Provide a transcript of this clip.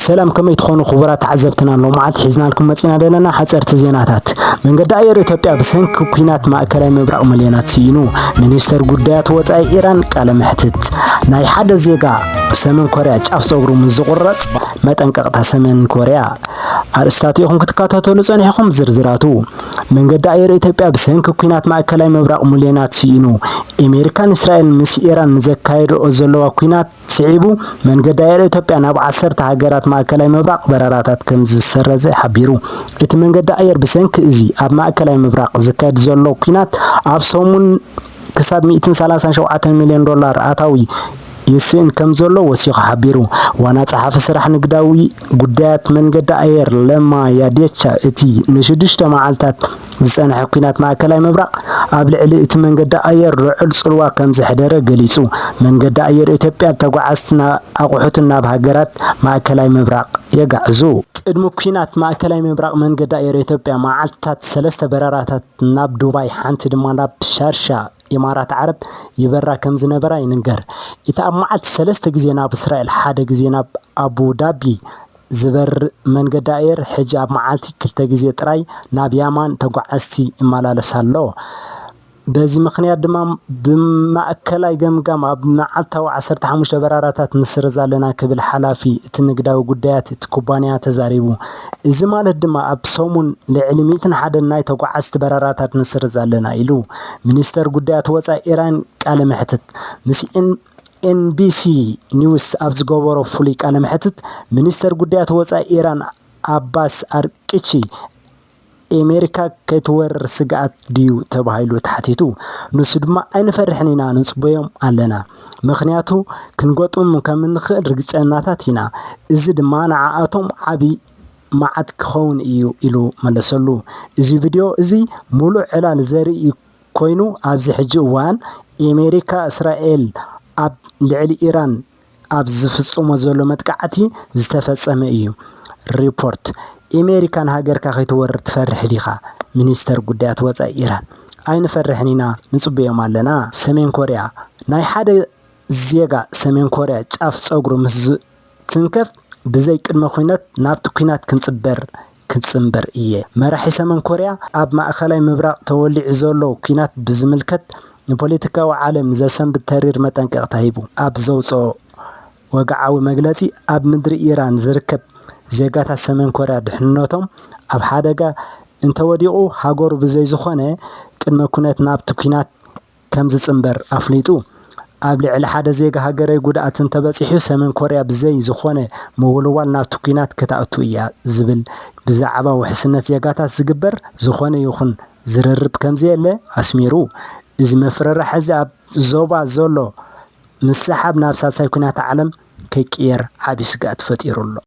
ሰላም ከመይ ትኾኑ ክቡራት ተዓዘብትና ሎምዓልቲ ሒዝናልኩም መጺና ደለና ሓጸርቲ ዜናታት መንገዲ ኣየር ኢትዮጵያ ብሰንኪ ኩናት ማእከላይ ምብራቕ ምልዮናት ስኢኑ ሚኒስተር ጉዳያት ወጻኢ ኢራን ቃለ መሕትት ናይ ሓደ ዜጋ ሰሜን ኮርያ ጫፍ ጸጉሩ ምስ ዝቑረጽ መጠንቀቕታ ሰሜን ኮርያ ኣርእስታት ኢኹም ክትከታተሉ ጸኒሕኹም ዝርዝራቱ መንገዲ ኣየር ኢትዮጵያ ብሰንኪ ኩናት ማእከላይ ምብራቕ ምልዮናት ስኢኑ ኣሜሪካን እስራኤልን ምስ ኢራን ንዘካየድኦ ዘለዋ ኩናት ስዒቡ፣ መንገዲ ኣየር ኢትዮጵያ ናብ ዓሰርተ ሃገራት ማእከላይ ምብራቕ በረራታት ከምዝሰረዘ ሓቢሩ። እቲ መንገዲ ኣየር ብሰንኪ እዚ ኣብ ማእከላይ ምብራቕ ዝካየድ ዘሎ ኲናት ኣብ ሰሙን ክሳብ ሚእትን ሰላሳን ሸውዓተን ሚልዮን ዶላር ኣታዊ ይስእን ከምዘሎ ወሲኹ ሓቢሩ። ዋና ጸሓፊ ስራሕ ንግዳዊ ጉዳያት መንገዲ ኣየር ለማ ያዴቻ እቲ ንሽዱሽተ መዓልታት ዝጸንሐ ኲናት ማእከላይ ምብራቕ ኣብ ልዕሊ እቲ መንገዲ ኣየር ልዑል ጽልዋ ከም ዘሕደረ ገሊጹ። መንገዲ ኣየር ኢትዮጵያ ተጓዓዝትን ኣቑሑትን ናብ ሃገራት ማእከላይ ምብራቕ የጋዕዙ። ቅድሚ ኲናት ማእከላይ ምብራቕ መንገዲ ኣየር ኢትዮጵያ መዓልትታት ሰለስተ በረራታት ናብ ዱባይ ሓንቲ ድማ ናብ ሻርሻ ኢማራት ዓረብ ይበራ ከም ዝነበራ ይንገር። እቲ ኣብ መዓልቲ ሰለስተ ግዜ ናብ እስራኤል ሓደ ግዜ ናብ ኣቡዳቢ ዝበርር መንገዲ ኣየር ሕጂ ኣብ መዓልቲ ክልተ ግዜ ጥራይ ናብ ያማን ተጓዓዝቲ ይመላለስ ኣሎ። በዚ ምኽንያት ድማ ብማእከላይ ገምጋም ኣብ መዓልታዊ ዓሰርተ ሓሙሽተ በራራታት ንስርዝ ኣለና ክብል ሓላፊ እቲ ንግዳዊ ጉዳያት እቲ ኩባንያ ተዛሪቡ። እዚ ማለት ድማ ኣብ ሰሙን ልዕሊ ሚእትን ሓደን ናይ ተጓዓዝቲ በራራታት ንስርዝ ኣለና ኢሉ። ሚኒስተር ጉዳያት ወጻኢ ኢራን ቃለ መሕትት ምስ ኤንቢሲ ኒውስ ኣብ ዝገበሮ ፍሉይ ቃለ መሕትት፣ ሚኒስተር ጉዳያት ወጻኢ ኢራን ኣባስ ኣርቅቺ፣ ኤመሪካ ከይትወርር ስግኣት ድዩ ተባሂሉ ተሓቲቱ፣ ንሱ ድማ ኣይንፈርሕን ኢና ንጽበዮም ኣለና፣ ምኽንያቱ ክንገጥሞም ከም እንኽእል ርግጸኛታት ኢና፣ እዚ ድማ ንዓኣቶም ዓቢ መዓት ክኸውን እዩ ኢሉ መለሰሉ። እዚ ቪድዮ እዚ ምሉእ ዕላል ዘርኢ ኮይኑ ኣብዚ ሕጂ እዋን ኤሜሪካ እስራኤል ኣብ ልዕሊ ኢራን ኣብ ዝፍጽሞ ዘሎ መጥቃዕቲ ዝተፈጸመ እዩ። ሪፖርት፣ ኤሜሪካ ንሃገርካ ከይትወርር ትፈርሕ ዲኻ? ሚኒስተር ጉዳያት ወጻኢ ኢራን፣ ኣይንፈርሕን ኢና ንጽበዮም ኣለና። ሰሜን ኮርያ፣ ናይ ሓደ ዜጋ ሰሜን ኮርያ ጫፍ ጸጉሩ ምስ ዝትንከፍ ብዘይ ቅድመ ኲነት ናብቲ ኲናት ክንጽበር ክጽንበር እየ። መራሒ ሰመን ኮርያ ኣብ ማእከላይ ምብራቕ ተወሊዑ ዘሎ ኲናት ብዝምልከት ንፖለቲካዊ ዓለም ዘሰንብድ ተሪር መጠንቀቕታ ሂቡ ኣብ ዘውጽኦ ወግዓዊ መግለጺ ኣብ ምድሪ ኢራን ዝርከብ ዜጋታት ሰሜን ኮርያ ድሕንነቶም ኣብ ሓደጋ እንተወዲቑ ሃገሩ ብዘይ ዝኾነ ቅድመ ኩነት ናብቲ ኲናት ከምዝፅምበር ኣፍሊጡ። ኣብ ልዕሊ ሓደ ዜጋ ሃገረይ ጉድኣት እንተበፂሑ ሰሜን ኮርያ ብዘይ ዝኾነ ምውልዋል ናብቲ ኲናት ክትኣቱ እያ ዝብል ብዛዕባ ውሕስነት ዜጋታት ዝግበር ዝኾነ ይኹን ዝርርብ ከምዘየለ ኣስሚሩ። እዚ መፍርራሕ እዚ ኣብ ዞባ ዘሎ ምስሕሓብ ናብ ሳልሳይ ኲናት ዓለም ከይቅየር ዓብዪ ስግኣት ፈጢሩ ኣሎ።